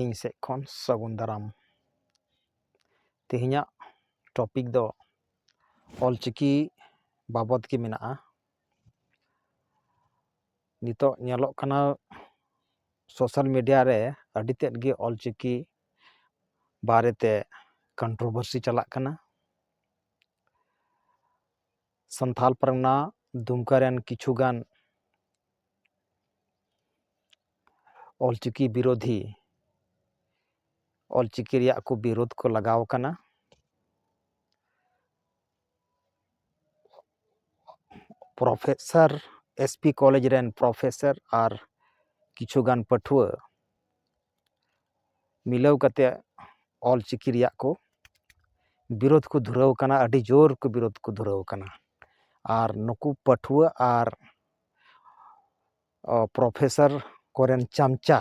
ᱤᱧ ᱥᱮᱫ ᱠᱷᱚᱱ ᱥᱟᱹᱜᱩᱱ ᱫᱟᱨᱟᱢ ᱛᱮᱦᱮᱧᱟᱜ ᱴᱚᱯᱤᱠ ᱫᱚ ᱚᱞ ᱪᱤᱠᱤ ᱵᱟᱵᱚᱫ ᱜᱮ ᱢᱮᱱᱟᱜᱼᱟ ᱱᱤᱛᱚᱜ ᱧᱮᱞᱚᱜ ᱠᱟᱱᱟ ᱥᱳᱥᱟᱞ ᱢᱤᱰᱤᱭᱟ ᱨᱮ ᱟᱹᱰᱤ ᱛᱮᱫ ᱜᱮ ᱚᱞ ᱪᱤᱠᱤ ᱵᱟᱨᱮᱛᱮ ᱠᱚᱱᱴᱨᱳᱵᱷᱟᱨᱥᱤ ᱪᱟᱞᱟᱜ ᱠᱟᱱᱟ ᱥᱟᱱᱛᱷᱟᱞ ᱯᱟᱨᱜᱟᱱᱟ ᱫᱩᱢᱠᱟ ᱨᱮᱱ ᱠᱤᱪᱷᱩ ᱜᱟᱱ ᱚᱞᱪᱤᱠᱤ ᱵᱤᱨᱳᱫᱷᱤ ᱚᱞᱪᱤᱠᱤ ᱨᱮᱭᱟᱜ ᱠᱚ ᱵᱤᱨᱳᱫᱷ ᱠᱚ ᱞᱟᱜᱟᱣ ᱠᱟᱱᱟ ᱯᱨᱚᱯᱷᱮᱥᱟᱨ ᱮᱥ ᱯᱤ ᱠᱚᱞᱮᱡᱽ ᱨᱮᱱ ᱯᱨᱚᱯᱷᱮᱥᱟᱨ ᱟᱨ ᱠᱤᱪᱷᱩ ᱜᱟᱱ ᱯᱟᱹᱴᱷᱩᱣᱟᱹ ᱢᱤᱞᱟᱹᱣ ᱠᱟᱛᱮ ᱚᱞ ᱪᱤᱠᱤ ᱨᱮᱭᱟᱜ ᱠᱚ ᱵᱤᱨᱳᱫᱷ ᱠᱚ ᱫᱷᱩᱨᱟᱹᱣ ᱠᱟᱱᱟ ᱟᱹᱰᱤ ᱡᱳᱨ ᱠᱚ ᱵᱤᱨᱳᱫᱷ ᱠᱚ ᱫᱷᱩᱨᱟᱹᱣ ᱠᱟᱱᱟ ᱟᱨ ᱱᱩᱠᱩ ᱯᱟᱹᱴᱷᱩᱣᱟᱹ ᱟᱨ ᱯᱨᱚᱯᱷᱮᱥᱟᱨ ᱠᱚᱨᱮᱱ ᱪᱟᱢᱪᱟ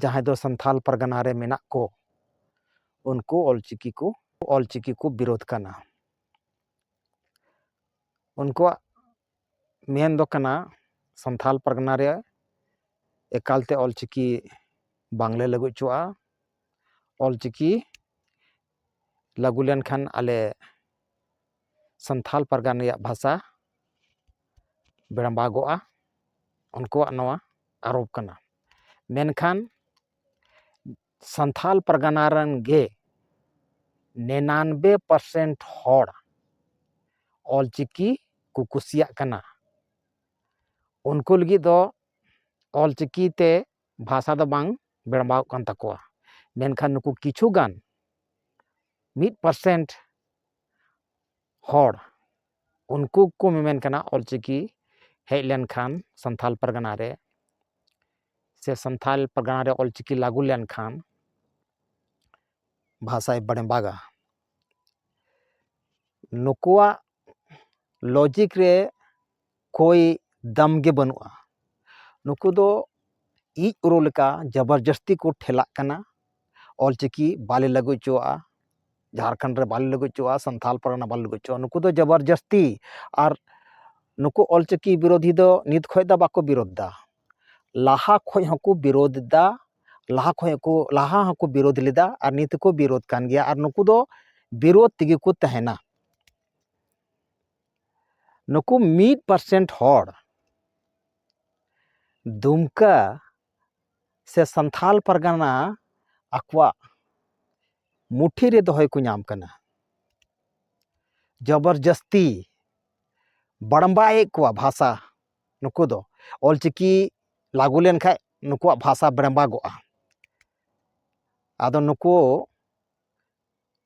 ᱡᱟᱦᱟᱸᱭ ᱫᱚ ᱥᱟᱱᱛᱟᱲ ᱯᱟᱨᱜᱟᱱᱟ ᱨᱮ ᱢᱮᱱᱟᱜ ᱠᱚ ᱩᱱᱠᱩ ᱚᱞ ᱪᱤᱠᱤ ᱠᱚ ᱚᱞ ᱪᱤᱠᱤ ᱠᱚ ᱵᱤᱨᱳᱫᱷ ᱠᱟᱱᱟ ᱩᱱᱠᱩᱣᱟᱜ ᱢᱮᱱ ᱫᱚ ᱠᱟᱱᱟ ᱥᱟᱱᱛᱷᱟᱞ ᱯᱟᱨᱜᱟᱱᱟ ᱨᱮ ᱮᱠᱟᱞᱛᱮ ᱚᱞᱪᱤᱠᱤ ᱵᱟᱝᱞᱮ ᱞᱟᱹᱜᱩ ᱦᱚᱪᱚᱣᱟᱜᱼᱟ ᱚᱞᱪᱤᱠᱤ ᱞᱟᱹᱜᱩ ᱞᱮᱱᱠᱷᱟᱱ ᱟᱞᱮ ᱥᱟᱱᱛᱷᱟᱞ ᱯᱟᱨᱜᱟᱱᱟ ᱨᱮᱭᱟᱜ ᱵᱷᱟᱥᱟ ᱵᱮᱲᱵᱟᱜᱚᱜᱼᱟ ᱩᱱᱠᱩᱣᱟᱜ ᱱᱚᱣᱟ ᱟᱨᱳᱯ ᱠᱟᱱᱟ ᱢᱮᱱᱠᱷᱟᱱ ᱥᱟᱱᱛᱟᱲ ᱯᱟᱨᱜᱟᱱᱟ ᱨᱮᱱ ᱜᱮ ᱱᱤᱨᱟᱱᱚᱵᱵᱳᱭ ᱯᱟᱨᱥᱮᱱᱴ ᱦᱚᱲ ᱚᱞ ᱪᱤᱠᱤ ᱠᱚ ᱠᱩᱥᱤᱭᱟᱜ ᱠᱟᱱᱟ ᱩᱱᱠᱩ ᱞᱟᱹᱜᱤᱫ ᱫᱚ ᱚᱞ ᱪᱤᱠᱤ ᱛᱮ ᱵᱷᱟᱥᱟ ᱫᱚ ᱵᱟᱝ ᱵᱮᱲᱵᱟᱣᱚᱜ ᱠᱟᱱ ᱛᱟᱠᱚᱣᱟ ᱢᱮᱱᱠᱷᱟᱱ ᱱᱩᱠᱩ ᱠᱤᱪᱷᱩ ᱜᱟᱱ ᱢᱤᱫ ᱯᱟᱨᱥᱮᱱᱴ ᱦᱚᱲ ᱩᱱᱠᱩ ᱠᱚ ᱢᱮᱢᱮᱱ ᱠᱟᱱᱟ ᱚᱞ ᱪᱤᱠᱤ ᱦᱮᱡ ᱞᱮᱱᱠᱷᱟᱱ ᱥᱟᱱᱛᱟᱲ ᱯᱟᱨᱜᱟᱱᱟ ᱨᱮ ᱥᱮ ᱥᱟᱱᱛᱟᱲ ᱯᱟᱨᱜᱟᱱᱟ ᱨᱮ ᱚᱞ ᱪᱤᱠᱤ ᱞᱟᱹᱜᱩ ᱞᱮᱱᱠᱷᱟᱱ ᱵᱷᱟᱥᱟᱭ ᱵᱟᱲᱮᱵᱟᱜᱟ ᱱᱩᱠᱩᱣᱟᱜ ᱞᱚᱡᱤᱠ ᱨᱮ ᱠᱳᱭ ᱫᱟᱢ ᱜᱮ ᱵᱟᱹᱱᱩᱜᱼᱟ ᱱᱩᱠᱩ ᱫᱚ ᱤᱡ ᱨᱳ ᱞᱮᱠᱟ ᱡᱚᱵᱚᱨ ᱡᱟᱹᱥᱛᱤ ᱠᱚ ᱴᱷᱮᱞᱟᱜ ᱠᱟᱱᱟ ᱚᱞ ᱪᱤᱠᱤ ᱵᱟᱞᱮ ᱞᱟᱹᱜᱩ ᱦᱚᱪᱚᱣᱟᱜᱼᱟ ᱡᱷᱟᱲᱠᱷᱚᱸᱰ ᱨᱮ ᱵᱟᱞᱮ ᱞᱟᱹᱜᱩ ᱦᱚᱪᱚᱣᱟᱜᱼᱟ ᱥᱟᱱᱛᱟᱲ ᱯᱟᱨᱜᱟᱱᱟ ᱵᱟᱞᱮ ᱞᱟᱹᱜᱩ ᱦᱚᱪᱚᱣᱟᱜᱼᱟ ᱱᱩᱠᱩ ᱫᱚ ᱡᱚᱵᱚᱨ ᱡᱟᱹᱥᱛᱤ ᱟᱨ ᱱᱩᱠᱩ ᱚᱞ ᱪᱤᱠᱤ ᱵᱤᱨᱳᱫᱷᱤ ᱫᱚ ᱱᱤᱛ ᱠᱷᱚᱱ ᱫᱚ ᱵᱟᱠᱚ ᱵᱤᱨᱳᱫᱷ ᱮᱫᱟ ᱞᱟᱦᱟ ᱠᱷᱚᱱ ᱦᱚᱸᱠᱚ ᱵᱤᱨᱳᱫᱷ ᱮᱫᱟ ᱞᱟᱦᱟ ᱠᱷᱚᱱ ᱦᱚᱸᱠᱚ ᱞᱟᱦᱟ ᱦᱚᱸᱠᱚ ᱵᱤᱨᱳᱫᱷ ᱞᱮᱫᱟ ᱟᱨ ᱱᱤᱛ ᱦᱚᱸᱠᱚ ᱵᱤᱨᱳᱫᱷ ᱠᱟᱱ ᱜᱮᱭᱟ ᱟᱨ ᱱᱩᱠᱩ ᱫᱚ ᱵᱤᱨᱳᱫᱷ ᱛᱮᱜᱮ ᱠᱚ ᱛᱟᱦᱮᱱᱟ ᱱᱩᱠᱩ ᱢᱤᱫ ᱯᱟᱨᱥᱮᱱᱴ ᱦᱚᱲ ᱫᱩᱢᱠᱟᱹ ᱥᱮ ᱥᱟᱱᱛᱷᱟᱞ ᱯᱟᱨᱜᱟᱱᱟ ᱟᱠᱚᱣᱟᱜ ᱢᱩᱴᱷᱤ ᱨᱮ ᱫᱚᱦᱚᱭ ᱠᱚ ᱧᱟᱢ ᱠᱟᱱᱟ ᱡᱚᱵᱚᱨᱡᱟᱹᱥᱛᱤ ᱵᱟᱲᱵᱟᱭᱮᱫ ᱠᱚᱣᱟ ᱵᱷᱟᱥᱟ ᱱᱩᱠᱩ ᱫᱚ ᱚᱞᱪᱤᱠᱤ ᱞᱟᱹᱜᱩ ᱞᱮᱱᱠᱷᱟᱡ ᱱᱩᱠᱩᱣᱟᱜ ᱵᱷᱟᱥᱟ ᱵᱮᱲᱵᱟᱜᱚᱜᱼᱟ ᱟᱫᱚ ᱱᱩᱠᱩ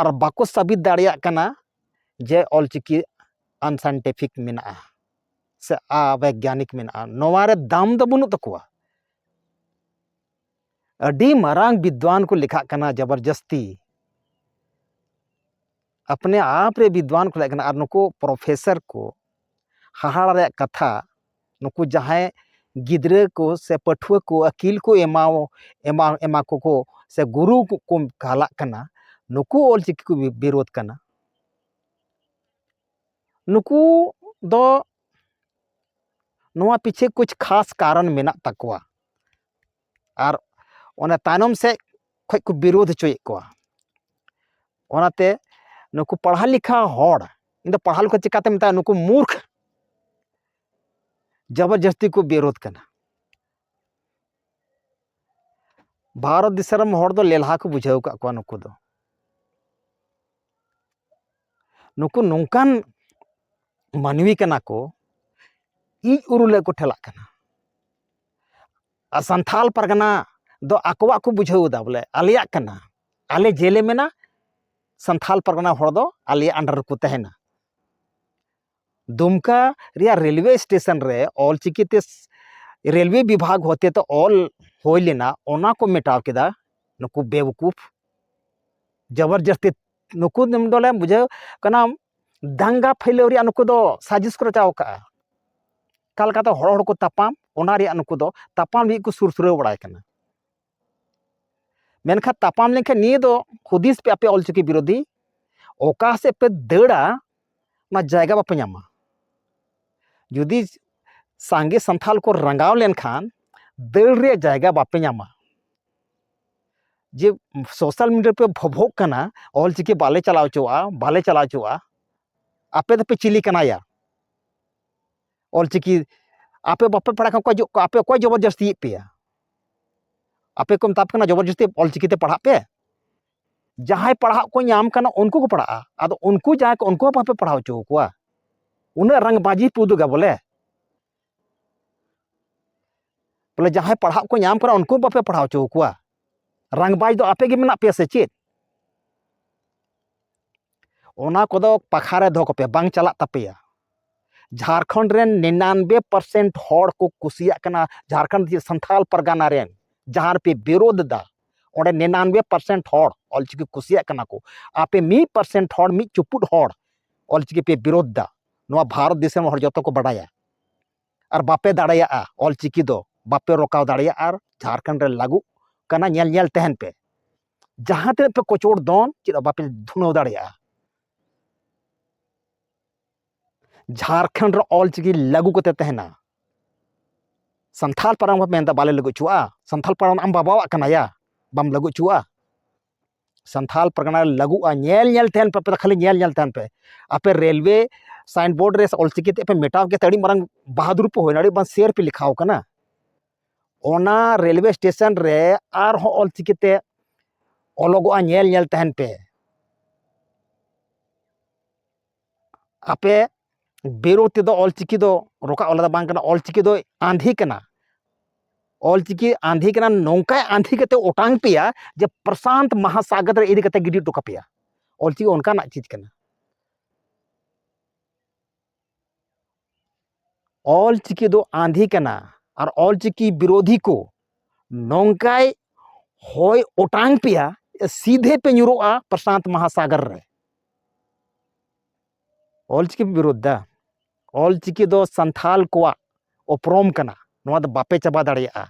ᱟᱨ ᱵᱟᱠᱚ ᱥᱟᱵᱤᱛ ᱫᱟᱲᱮᱭᱟᱜ ᱠᱟᱱᱟ ᱡᱮ ᱚᱞᱪᱤᱠᱤ ᱟᱱᱥᱟᱭᱮᱱᱴᱤᱯᱷᱤᱠ ᱢᱮᱱᱟᱜᱼᱟ ᱥᱮ ᱟᱵᱮᱜᱽᱜᱟᱱᱤᱠ ᱢᱮᱱᱟᱜᱼᱟ ᱱᱚᱣᱟ ᱨᱮ ᱫᱟᱢ ᱫᱚ ᱵᱟᱹᱱᱩᱜ ᱛᱟᱠᱚᱣᱟ ᱟᱹᱰᱤ ᱢᱟᱨᱟᱝ ᱵᱤᱫᱽᱣᱟᱱ ᱠᱚ ᱞᱮᱠᱷᱟᱜ ᱠᱟᱱᱟ ᱡᱚᱵᱚᱨᱡᱚᱥᱛᱤ ᱟᱯᱱᱮ ᱟᱯ ᱨᱮ ᱵᱤᱫᱽᱫᱷᱣᱟᱱ ᱠᱚ ᱛᱟᱦᱮᱸ ᱠᱟᱱᱟ ᱟᱨ ᱱᱩᱠᱩ ᱯᱨᱚᱯᱷᱮᱥᱟᱨ ᱠᱚ ᱦᱟᱦᱟᱲᱟ ᱨᱮᱭᱟᱜ ᱠᱟᱛᱷᱟ ᱱᱩᱠᱩ ᱡᱟᱦᱟᱸᱭ ᱜᱤᱫᱽᱨᱟᱹ ᱠᱚ ᱥᱮ ᱯᱟᱹᱴᱷᱩᱣᱟᱹ ᱠᱚ ᱟᱹᱠᱤᱞ ᱠᱚ ᱮᱢᱟ ᱮᱢᱟ ᱠᱚᱠᱚ ᱥᱮ ᱜᱩᱨᱩ ᱠᱚᱠᱚ ᱠᱟᱞᱟᱜ ᱠᱟᱱᱟ ᱱᱩᱠᱩ ᱚᱞ ᱪᱤᱠᱤ ᱠᱚ ᱵᱤᱨᱳᱫᱷ ᱠᱟᱱᱟ ᱱᱩᱠᱩ ᱫᱚ ᱱᱚᱣᱟ ᱯᱤᱪᱷᱮ ᱠᱩᱪ ᱠᱷᱟᱥ ᱠᱟᱨᱚᱱ ᱢᱮᱱᱟᱜ ᱛᱟᱠᱚᱣᱟ ᱟᱨ ᱚᱱᱟ ᱛᱟᱭᱱᱚᱢ ᱥᱮᱫ ᱠᱷᱚᱱ ᱠᱚ ᱵᱤᱨᱳᱫᱷ ᱦᱚᱪᱚᱭᱮᱫ ᱠᱚᱣᱟ ᱚᱱᱟᱛᱮ ᱱᱩᱠᱩ ᱯᱟᱲᱦᱟᱣ ᱞᱮᱠᱷᱟ ᱦᱚᱲ ᱤᱧ ᱫᱚ ᱯᱟᱲᱦᱟᱣ ᱞᱮᱠᱷᱟ ᱪᱤᱠᱟᱛᱮ ᱢᱮᱛᱟᱜᱼᱟ ᱱᱩᱠᱩ ᱢᱩᱨᱠᱷ ᱡᱚᱵᱚᱨᱡᱟᱹᱥᱛᱤ ᱠᱚ ᱵᱤᱨᱳᱫᱷ ᱠᱟᱱᱟ ᱵᱷᱟᱨᱚᱛ ᱫᱤᱥᱚᱢ ᱨᱮᱱ ᱦᱚᱲ ᱫᱚ ᱞᱮᱞᱦᱟ ᱠᱚ ᱵᱩᱡᱷᱟᱹᱣ ᱟᱠᱟᱫ ᱠᱚᱣᱟ ᱱᱩᱠᱩ ᱫᱚ ᱱᱩᱠᱩ ᱱᱚᱝᱠᱟᱱ ᱢᱟᱹᱱᱢᱤ ᱠᱟᱱᱟ ᱠᱚ ᱤᱡ ᱩᱨᱩᱞᱮ ᱠᱚ ᱴᱷᱮᱞᱟᱜ ᱠᱟᱱᱟ ᱟᱨ ᱥᱟᱱᱛᱷᱟᱞ ᱯᱟᱨᱜᱟᱱᱟ ᱫᱚ ᱟᱠᱚᱣᱟᱜ ᱠᱚ ᱵᱩᱡᱷᱟᱹᱣ ᱮᱫᱟ ᱵᱚᱞᱮ ᱟᱞᱮᱭᱟᱜ ᱠᱟᱱᱟ ᱟᱞᱮ ᱡᱮᱞᱮ ᱢᱮᱱᱟ ᱥᱟᱱᱛᱷᱟᱞ ᱯᱟᱨᱜᱟᱱᱟ ᱦᱚᱲ ᱫᱚ ᱟᱞᱮᱭᱟᱜ ᱟᱱᱰᱟᱨ ᱨᱮᱠᱚ ᱛᱟᱦᱮᱱᱟ ᱫᱩᱢᱠᱟ ᱨᱮᱭᱟᱜ ᱨᱮᱞᱣᱮ ᱥᱴᱮᱥᱚᱱ ᱨᱮ ᱚᱞ ᱪᱤᱠᱤᱛᱮ ᱨᱮᱞᱣᱮ ᱵᱤᱵᱷᱟᱜᱽ ᱦᱚᱛᱮᱛᱮ ᱚᱞ ᱦᱩᱭ ᱞᱮᱱᱟ ᱚᱱᱟ ᱠᱚ ᱢᱮᱴᱟᱣ ᱠᱮᱫᱟ ᱱᱩᱠᱩ ᱵᱮᱣᱠᱩᱯ ᱡᱚᱵᱚᱨᱡᱚᱥᱛᱤ ᱱᱩᱠᱩ ᱫᱚᱞᱮ ᱵᱩᱡᱷᱟᱹᱣ ᱠᱟᱱᱟ ᱫᱟᱝᱜᱟ ᱯᱷᱟᱹᱭᱞᱟᱹᱣ ᱨᱮᱭᱟᱜ ᱱᱩᱠᱩ ᱫᱚ ᱥᱟᱡᱤᱥ ᱠᱚ ᱨᱟᱪᱟᱣ ᱠᱟᱜᱼᱟ ᱚᱠᱟ ᱞᱮᱠᱟᱛᱮ ᱦᱚᱲ ᱦᱚᱲ ᱠᱚ ᱛᱟᱯᱟᱢ ᱚᱱᱟ ᱨᱮᱭᱟᱜ ᱱᱩᱠᱩ ᱫᱚ ᱛᱟᱯᱟᱢ ᱞᱟᱹᱜᱤᱫ ᱠᱚ ᱥᱩᱨ ᱥᱩᱨᱟᱹᱣ ᱵᱟᱲᱟᱭ ᱠᱟᱱᱟ ᱢᱮᱱᱠᱷᱟᱱ ᱛᱟᱯᱟᱢ ᱞᱮᱱᱠᱷᱟᱱ ᱱᱤᱭᱟᱹ ᱫᱚ ᱦᱩᱫᱤᱥ ᱯᱮ ᱟᱯᱮ ᱚᱞᱪᱤᱠᱤ ᱵᱤᱨᱳᱫᱷᱤ ᱚᱠᱟ ᱥᱮᱫ ᱯᱮ ᱫᱟᱹᱲᱟ ᱚᱱᱟ ᱡᱟᱭᱜᱟ ᱵᱟᱯᱮ ᱧᱟᱢᱟ ᱡᱩᱫᱤ ᱥᱟᱸᱜᱮ ᱥᱟᱱᱛᱷᱟᱞ ᱠᱚ ᱨᱟᱸᱜᱟᱣ ᱞᱮᱱᱠᱷᱟᱱ ᱫᱟᱹᱲ ᱨᱮᱭᱟᱜ ᱡᱟᱭᱜᱟ ᱵᱟᱯᱮ ᱧᱟᱢᱟ ᱡᱮ ᱥᱳᱥᱟᱞ ᱢᱤᱰᱤᱭᱟ ᱯᱮ ᱵᱷᱚᱵᱷᱚᱜ ᱠᱟᱱᱟ ᱚᱞᱪᱤᱠᱤ ᱵᱟᱞᱮ ᱪᱟᱞᱟᱣ ᱦᱚᱪᱚᱣᱟᱜᱼᱟ ᱵᱟᱞᱮ ᱪᱟᱞᱟᱣ ᱦᱚᱪᱚᱣᱟᱜᱼᱟ ᱟᱯᱮ ᱫᱚᱯᱮ ᱪᱤᱞᱤ ᱠᱟᱱᱟᱭᱟ ᱚᱞ ᱪᱤᱠᱤ ᱟᱯᱮ ᱵᱟᱯᱮ ᱯᱟᱲᱦᱟᱜ ᱠᱷᱟᱱ ᱚᱠᱚᱭ ᱡᱚ ᱟᱯᱮ ᱚᱠᱚᱭ ᱡᱚᱵᱚᱨ ᱡᱟᱹᱥᱛᱤᱭᱮᱫ ᱯᱮᱭᱟ ᱟᱯᱮ ᱠᱚ ᱢᱮᱛᱟ ᱯᱮ ᱠᱟᱱᱟ ᱡᱚᱵᱚᱨ ᱡᱟᱹᱥᱛᱤ ᱚᱞ ᱪᱤᱠᱤ ᱛᱮ ᱯᱟᱲᱦᱟᱜ ᱯᱮ ᱡᱟᱦᱟᱸᱭ ᱯᱟᱲᱦᱟᱜ ᱠᱚ ᱧᱟᱢ ᱠᱟᱱᱟ ᱩᱱᱠᱩ ᱠᱚ ᱯᱟᱲᱦᱟᱜᱼᱟ ᱟᱫᱚ ᱩᱱᱠᱩ ᱡᱟᱦᱟᱸᱭ ᱠᱚ ᱩᱱᱠᱩ ᱦᱚᱸ ᱵᱟᱯᱮ ᱯᱟᱲᱦᱟᱣ ᱦᱚᱪᱚ ᱠᱚᱣᱟ ᱩᱱᱟᱹᱜ ᱨᱟᱝ ᱵᱟᱹᱡᱤ ᱯᱮ ᱩᱫᱩᱜᱟ ᱵᱚᱞᱮ ᱵᱚᱞᱮ ᱡᱟᱦᱟᱸᱭ ᱯᱟᱲᱦᱟᱜ ᱠᱚ ᱧᱟᱢ ᱠᱟᱱᱟ ᱩᱱᱠᱩ ᱵᱟᱯᱮ ᱯᱟᱲᱦᱟᱣ ᱦᱚᱪᱚ ᱠᱚᱣᱟ ᱨᱟᱝᱵᱟᱡᱽ ᱫᱚ ᱟᱯᱮ ᱜᱮ ᱢᱮᱱᱟᱜ ᱯᱮᱭᱟ ᱥᱮ ᱪᱮᱫ ᱚᱱᱟ ᱠᱚᱫᱚ ᱯᱟᱠᱷᱟᱨ ᱨᱮ ᱫᱚᱦᱚ ᱠᱚᱯᱮ ᱵᱟᱝ ᱪᱟᱞᱟᱜ ᱛᱟᱯᱮᱭᱟ ᱡᱷᱟᱲᱠᱷᱚᱸᱰ ᱨᱮᱱ ᱱᱤᱱᱟᱱᱵᱮ ᱯᱟᱨᱥᱮᱱᱴ ᱦᱚᱲ ᱠᱚ ᱠᱩᱥᱤᱭᱟᱜ ᱠᱟᱱᱟ ᱡᱷᱟᱲᱠᱷᱚᱸᱰ ᱡᱮ ᱥᱟᱱᱛᱷᱟᱞ ᱯᱟᱨᱜᱟᱱᱟ ᱨᱮᱱ ᱡᱟᱦᱟᱸ ᱨᱮᱯᱮ ᱵᱤᱨᱳᱫᱷ ᱮᱫᱟ ᱚᱸᱰᱮ ᱱᱤᱱᱟᱱᱵᱮ ᱯᱟᱨᱥᱮᱱᱴ ᱦᱚᱲ ᱚᱞᱪᱤᱠᱤ ᱠᱩᱥᱤᱭᱟᱜ ᱠᱟᱱᱟ ᱠᱚ ᱟᱯᱮ ᱢᱤᱫ ᱯᱟᱨᱥᱮᱱᱴ ᱦᱚᱲ ᱢᱤᱫ ᱪᱩᱯᱩᱫ ᱦᱚᱲ ᱚᱞᱪᱤᱠᱤ ᱯᱮ ᱵᱤᱨᱳᱫᱷ ᱮᱫᱟ ᱱᱚᱣᱟ ᱵᱷᱟᱨᱚᱛ ᱫᱤᱥᱚᱢ ᱦᱚᱲ ᱡᱚᱛᱚ ᱠᱚ ᱵᱟᱰᱟᱭᱟ ᱟᱨ ᱵᱟᱯᱮ ᱫᱟᱲᱮᱭᱟᱜᱼᱟ ᱚᱞᱪᱤᱠᱤ ᱫᱚ ᱵᱟᱯᱮ ᱨᱚᱠᱟᱣ ᱫᱟᱲᱮᱭᱟᱜᱼᱟ ᱟᱨ ᱡᱷᱟᱲᱠᱷᱚᱸᱰ ᱨᱮ ᱞᱟᱹᱜᱩᱜ ᱠᱟᱱᱟ ᱧᱮᱞ ᱧᱮᱞ ᱛᱟᱦᱮᱱ ᱯᱮ ᱡᱟᱦᱟᱸ ᱛᱤᱱᱟᱹᱜ ᱯᱮ ᱠᱚᱪᱚᱲ ᱫᱚᱱ ᱪᱮᱫ ᱦᱚᱸ ᱵᱟᱯᱮ ᱫᱷᱩᱱᱟᱹᱣ ᱫᱟᱲᱮᱭᱟᱜᱼᱟ ᱡᱷᱟᱲᱠᱷᱚᱸᱰ ᱨᱮ ᱚᱞᱪᱤᱠᱤ ᱞᱟᱹᱜᱩ ᱠᱟᱛᱮ ᱛᱟᱦᱮᱱᱟ ᱥᱟᱱᱛᱷᱟᱞ ᱯᱟᱨᱜᱟᱱᱟ ᱠᱚ ᱢᱮᱱᱫᱟ ᱵᱟᱞᱮ ᱞᱟᱹᱜᱩ ᱦᱚᱪᱚᱣᱟᱜᱼᱟ ᱥᱟᱱᱛᱷᱟᱞ ᱯᱟᱨᱜᱟᱱᱟ ᱟᱢ ᱵᱟᱵᱟᱣᱟᱜ ᱠᱟᱱᱟ ᱭᱟ ᱵᱟᱢ ᱞᱟᱹᱜᱩ ᱦᱚᱪᱚᱣᱟᱜᱼᱟ ᱥᱟᱱᱛᱷᱟᱞ ᱯᱟᱨᱜᱟᱱᱟ ᱞᱟᱹᱜᱩᱜᱼᱟ ᱧᱮᱞ ᱧᱮᱞ ᱛᱟᱦᱮᱱ ᱯᱮ ᱟᱯᱮ ᱫᱚ ᱠᱷᱟᱹᱞᱤ ᱧᱮᱞ ᱧᱮᱞ ᱛᱟᱦᱮᱱ ᱯᱮ ᱟᱯᱮ ᱨᱮᱞᱣᱮ ᱥᱟᱭᱤᱱ ᱵᱳᱨᱰ ᱨᱮ ᱚᱞᱪᱤᱠᱤ ᱛᱮ ᱯᱮ ᱢᱮᱴᱟᱣ ᱠᱮᱫ ᱛᱮ ᱟᱹᱰᱤ ᱢᱟᱨᱟᱝ ᱵᱟᱦᱟᱫᱩᱨ ᱯᱮ ᱦᱩᱭᱱᱟ ᱟᱹᱰᱤ ᱢᱟᱨᱟᱝ ᱥᱮᱨ ᱯᱮ ᱞᱮᱠᱷᱟᱣ ᱠᱟᱱᱟ ᱚᱱᱟ ᱨᱮᱞᱣᱮ ᱥᱴᱮᱥᱚᱱ ᱨᱮ ᱟᱨᱦᱚᱸ ᱚᱞ ᱪᱤᱠᱤᱛᱮ ᱚᱞᱚᱜᱚᱜᱼᱟ ᱧᱮᱞ ᱧᱮᱞ ᱛᱟᱦᱮᱱ ᱯᱮ ᱟᱯᱮ ᱵᱮᱨᱳ ᱛᱮᱫᱚ ᱚᱞ ᱪᱤᱠᱤ ᱫᱚ ᱨᱚᱠᱟ ᱚᱞ ᱫᱚ ᱵᱟᱝ ᱠᱟᱱᱟ ᱚᱞ ᱪᱤᱠᱤ ᱫᱚ ᱟᱸᱫᱷᱤ ᱠᱟᱱᱟ ᱚᱞ ᱪᱤᱠᱤ ᱟᱸᱫᱷᱤ ᱠᱟᱱᱟ ᱱᱚᱝᱠᱟᱭ ᱟᱸᱫᱷᱤ ᱠᱟᱛᱮ ᱚᱴᱟᱝ ᱯᱮᱭᱟ ᱡᱮ ᱯᱨᱚᱥᱟᱱᱛ ᱢᱟᱦᱟᱥᱟᱜᱚᱨ ᱨᱮ ᱤᱫᱤ ᱠᱟᱛᱮ ᱜᱤᱰᱤ ᱦᱚᱴᱚ ᱠᱟᱯᱮᱭᱟ ᱚᱞ ᱪᱤᱠᱤ ᱚᱱᱠᱟᱱᱟᱜ ᱪᱤᱡᱽ ᱠᱟᱱᱟ ᱚᱞ ᱪᱤᱠᱤ ᱫᱚ ᱟᱸᱫᱷᱤ ᱠᱟᱱᱟ ᱟᱨ ᱚᱞ ᱪᱤᱠᱤ ᱵᱤᱨᱳᱫᱷᱤ ᱠᱚ ᱱᱚᱝᱠᱟᱭ ᱦᱚᱭ ᱚᱴᱟᱝ ᱯᱮᱭᱟ ᱥᱤᱫᱷᱮ ᱯᱮ ᱧᱩᱨᱩᱜᱼᱟ ᱯᱨᱚᱥᱟᱱᱛ ᱢᱟᱦᱟᱥᱟᱜᱚᱨ ᱨᱮ ᱚᱞ ᱪᱤᱠᱤ ᱯᱮ ᱵᱤᱨᱳᱫᱷ ᱫᱟ ᱚᱞ ᱪᱤᱠᱤ ᱫᱚ ᱥᱟᱱᱛᱷᱟᱞ ᱠᱚᱣᱟᱜ ᱩᱯᱨᱩᱢ ᱠᱟᱱᱟ ᱱᱚᱣᱟ ᱫᱚ ᱵᱟᱯᱮ ᱪᱟᱵᱟ ᱫᱟᱲᱮᱭᱟᱜᱼᱟ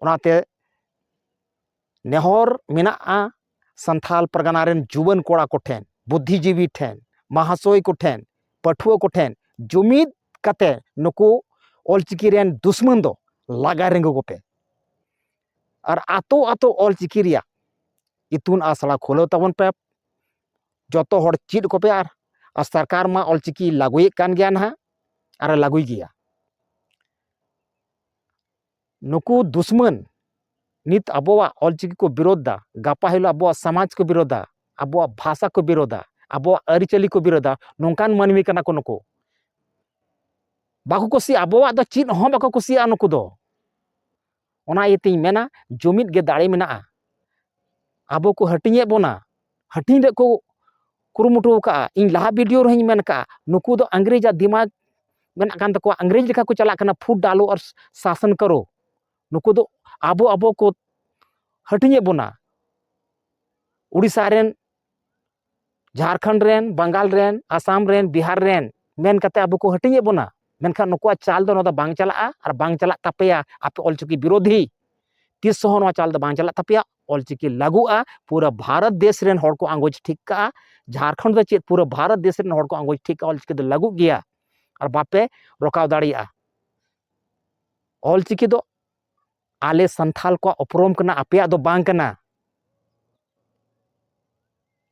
ᱚᱱᱟᱛᱮ ᱱᱮᱦᱚᱨ ᱢᱮᱱᱟᱜᱼᱟ ᱥᱟᱱᱛᱷᱟᱞ ᱯᱟᱨᱜᱟᱱᱟ ᱨᱮᱱ ᱡᱩᱣᱟᱹᱱ ᱠᱚᱲᱟ ᱠᱚᱴᱷᱮᱱ ᱵᱩᱫᱽᱫᱷᱤᱡᱤᱵᱤ ᱴᱷᱮᱱ ᱢᱟᱦᱟᱥᱚᱭ ᱠᱚᱴᱷᱮᱱ ᱯᱟᱹᱴᱷᱩᱣᱟᱹ ᱠᱚᱴᱷᱮᱱ ᱡᱩᱢᱤᱫ ᱠᱟᱛᱮ ᱱᱩᱠᱩ ᱚᱞᱪᱤᱠᱤ ᱨᱮᱱ ᱫᱩᱥᱢᱟᱹᱱ ᱫᱚ ᱞᱟᱜᱟ ᱨᱮᱸᱜᱩ ᱠᱚᱯᱮ ᱟᱨ ᱟᱛᱳ ᱟᱛᱳ ᱚᱞᱪᱤᱠᱤ ᱨᱮᱭᱟᱜ ᱤᱛᱩᱱ ᱟᱥᱲᱟ ᱠᱷᱩᱞᱟᱹᱣ ᱛᱟᱵᱚᱱ ᱯᱮ ᱡᱚᱛᱚ ᱦᱚᱲ ᱪᱮᱫ ᱠᱚᱯᱮ ᱟᱨ ᱟᱨ ᱥᱚᱨᱠᱟᱨ ᱢᱟ ᱚᱞᱪᱤᱠᱤ ᱞᱟᱹᱜᱩᱭᱮᱫ ᱠᱟᱱ ᱜᱮᱭᱟ ᱱᱟᱦᱟᱜ ᱟᱨᱮ ᱞᱟᱹᱜᱩᱭ ᱜᱮᱭᱟ ᱱᱩᱠᱩ ᱫᱩᱥᱢᱟᱹᱱ ᱱᱤᱛ ᱟᱵᱚᱣᱟᱜ ᱚᱞ ᱪᱤᱠᱤ ᱠᱚ ᱵᱤᱨᱳᱫᱷ ᱫᱟ ᱜᱟᱯᱟ ᱦᱤᱞᱳᱜ ᱟᱵᱚᱣᱟᱜ ᱥᱟᱢᱟᱡᱽ ᱠᱚ ᱵᱤᱨᱳᱫᱷᱟ ᱟᱵᱚᱣᱟᱜ ᱵᱷᱟᱥᱟ ᱠᱚ ᱵᱤᱨᱳᱫᱷᱟ ᱟᱵᱚᱣᱟᱜ ᱟᱹᱨᱤᱪᱟᱹᱞᱤ ᱠᱚ ᱵᱤᱨᱳᱫᱷᱟ ᱱᱚᱝᱠᱟᱱ ᱢᱟᱹᱱᱢᱤ ᱠᱟᱱᱟ ᱠᱚ ᱱᱩᱠᱩ ᱵᱟᱠᱚ ᱠᱩᱥᱤᱭᱟᱜᱼᱟ ᱟᱵᱚᱣᱟᱜ ᱫᱚ ᱪᱮᱫ ᱦᱚᱸ ᱵᱟᱠᱚ ᱠᱩᱥᱤᱭᱟᱜᱼᱟ ᱱᱩᱠᱩ ᱫᱚ ᱚᱱᱟ ᱤᱭᱟᱹᱛᱮᱧ ᱢᱮᱱᱟ ᱡᱩᱢᱤᱫ ᱜᱮ ᱫᱟᱲᱮ ᱢᱮᱱᱟᱜᱼᱟ ᱟᱵᱚ ᱠᱚ ᱦᱟᱹᱴᱤᱧᱮᱫ ᱵᱚᱱᱟ ᱦᱟᱹᱴᱤᱧ ᱨᱮᱭᱟᱜ ᱠᱚ ᱠᱩᱨᱩᱢᱩᱴᱩ ᱟᱠᱟᱫᱼᱟ ᱤᱧ ᱞᱟᱦᱟ ᱵᱷᱤᱰᱤᱭᱳ ᱨᱮᱦᱚᱸᱧ ᱢᱮᱱ ᱟᱠᱟᱫᱼᱟ ᱱᱩᱠᱩ ᱫᱚ ᱤᱝᱨᱮᱡᱟᱜ ᱫᱤᱢᱟᱜᱽ ᱢᱮᱱᱟᱜ ᱠᱟᱱ ᱛᱟᱠᱚᱣᱟ ᱤᱝᱨᱮᱡᱽ ᱞᱮᱠᱟ ᱠᱚ ᱪᱟᱞᱟᱜ ᱠᱟᱱᱟ ᱯᱷᱩᱰ ᱰᱟᱞᱳ ᱟᱨ ᱥᱟᱥᱚᱱ ᱠᱟᱨᱳ ᱱᱩᱠᱩ ᱫᱚ ᱟᱵᱚ ᱟᱵᱚ ᱠᱚ ᱦᱟᱹᱴᱤᱧᱮᱫ ᱵᱚᱱᱟ ᱩᱲᱤᱥᱥᱟ ᱨᱮᱱ ᱡᱷᱟᱲᱠᱷᱚᱸᱰ ᱨᱮᱱ ᱵᱟᱝᱜᱟᱞ ᱨᱮᱱ ᱟᱥᱟᱢ ᱨᱮᱱ ᱵᱤᱦᱟᱨ ᱨᱮᱱ ᱢᱮᱱ ᱠᱟᱛᱮ ᱟᱵᱚ ᱠᱚ ᱦᱟᱹᱴᱤᱧᱮᱫ ᱵᱚᱱᱟ ᱢᱮᱱᱠᱷᱟᱱ ᱱᱩᱠᱩᱣᱟᱜ ᱪᱟᱞ ᱫᱚ ᱱᱚᱣᱟ ᱫᱚ ᱵᱟᱝ ᱪᱟᱞᱟᱜᱼᱟ ᱟᱨ ᱵᱟᱝ ᱪᱟᱞᱟᱜ ᱛᱟᱯᱮᱭᱟ ᱟᱯᱮ ᱚᱞᱪᱤᱠᱤ ᱵᱤᱨᱳᱫᱷᱤ ᱛᱤᱥ ᱦᱚᱸ ᱱᱚᱣᱟ ᱪᱟᱞ ᱫᱚ ᱵᱟᱝ ᱪᱟᱞᱟᱜ ᱛᱟᱯᱮᱭᱟ ᱚᱞᱪᱤᱠᱤ ᱞᱟᱹᱜᱩᱜᱼᱟ ᱯᱩᱨᱟᱹ ᱵᱷᱟᱨᱚᱛ ᱫᱮᱥ ᱨᱮᱱ ᱦᱚᱲ ᱠᱚ ᱟᱸᱜᱚᱪ ᱴᱷᱤᱠ ᱠᱟᱜᱼᱟ ᱡᱷᱟᱲᱠᱷᱚᱸᱰ ᱫᱚ ᱪᱮᱫ ᱯᱩᱨᱟᱹ ᱵᱷᱟᱨᱚᱛ ᱫᱮᱥ ᱨᱮᱱ ᱦᱚᱲ ᱠᱚ ᱟᱸᱜᱚᱪ ᱴᱷᱤᱠ ᱠᱟᱜᱼᱟ ᱚᱞᱪᱤᱠᱤ ᱫᱚ ᱞᱟᱹᱜᱩᱜ ᱜᱮᱭᱟ ᱟᱨ ᱵᱟᱯᱮ ᱨᱚᱠᱟᱣ ᱫᱟᱲᱮᱭᱟᱜᱼᱟ ᱚᱞᱪᱤᱠᱤ ᱫᱚ ᱟᱞᱮ ᱥᱟᱱᱛᱷᱟᱞ ᱠᱚᱣᱟᱜ ᱩᱯᱨᱩᱢ ᱠᱟᱱᱟ ᱟᱯᱮᱭᱟᱜ ᱫᱚ ᱵᱟᱝ ᱠᱟᱱᱟ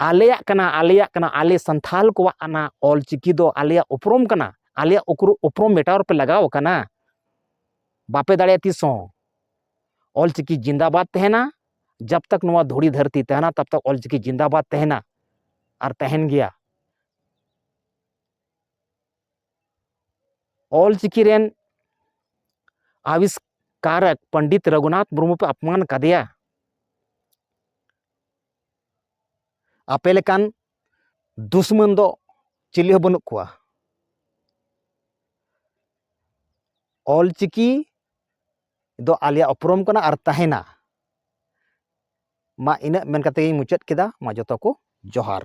ᱟᱞᱮᱭᱟᱜ ᱠᱟᱱᱟ ᱟᱞᱮᱭᱟᱜ ᱠᱟᱱᱟ ᱟᱞᱮ ᱥᱟᱱᱛᱷᱟᱞ ᱠᱚᱣᱟᱜ ᱟᱱᱟ ᱚᱞᱪᱤᱠᱤ ᱫᱚ ᱟᱞᱮᱭᱟᱜ ᱩᱯᱨᱩᱢ ᱠᱟᱱᱟ ᱟᱞᱮᱭᱟᱜ ᱩᱯᱨᱩᱢ ᱢᱮᱴᱟᱣ ᱨᱮᱯᱮ ᱞᱟᱜᱟᱣ ᱠᱟᱱᱟ ᱵᱟᱯᱮ ᱫᱟᱲᱮᱭᱟᱜᱼᱟ ᱛᱤᱥ ᱦᱚᱸ ᱚᱞᱪᱤᱠᱤ ᱡᱤᱱᱫᱟᱵᱟᱫᱽ ᱛᱟᱦᱮᱱᱟ ᱡᱟᱵ ᱛᱟᱠ ᱱᱚᱣᱟ ᱫᱷᱩᱲᱤ ᱫᱷᱟᱹᱨᱛᱤ ᱛᱟᱦᱮᱱᱟ ᱛᱟᱵ ᱛᱟᱠ ᱚᱞᱪᱤᱠᱤ ᱡᱤᱱᱫᱟᱵᱟᱫᱽ ᱛᱟᱦᱮᱱᱟ ᱟᱨ ᱛᱟᱦᱮᱱ ᱜᱮᱭᱟ ᱚᱞᱪᱤᱠᱤ ᱨᱮᱱ ᱟᱵᱤᱥᱠᱟᱨᱚᱠ ᱯᱚᱱᱰᱤᱛ ᱨᱚᱜᱷᱩᱱᱟᱛᱷ ᱢᱩᱨᱢᱩ ᱯᱮ ᱟᱯᱢᱟᱱ ᱠᱟᱫᱮᱭᱟ ᱟᱯᱮ ᱞᱮᱠᱟᱱ ᱫᱩᱥᱢᱟᱱ ᱫᱚ ᱪᱤᱞᱤ ᱦᱚᱸ ᱵᱟᱹᱱᱩᱜ ᱠᱚᱣᱟ ᱚᱞᱪᱤᱠᱤ ᱫᱚ ᱟᱞᱮᱭᱟᱜ ᱩᱯᱨᱩᱢ ᱠᱟᱱᱟ ᱟᱨ ᱛᱟᱦᱮᱱᱟ ᱢᱟ ᱤᱱᱟᱹᱜ ᱢᱮᱱ ᱠᱟᱛᱮ ᱜᱤᱧ ᱢᱩᱪᱟᱹᱫ ᱠᱮᱫᱟ ᱢᱟ ᱡᱚᱛᱚ ᱠᱚ ᱡᱚᱦᱟᱨ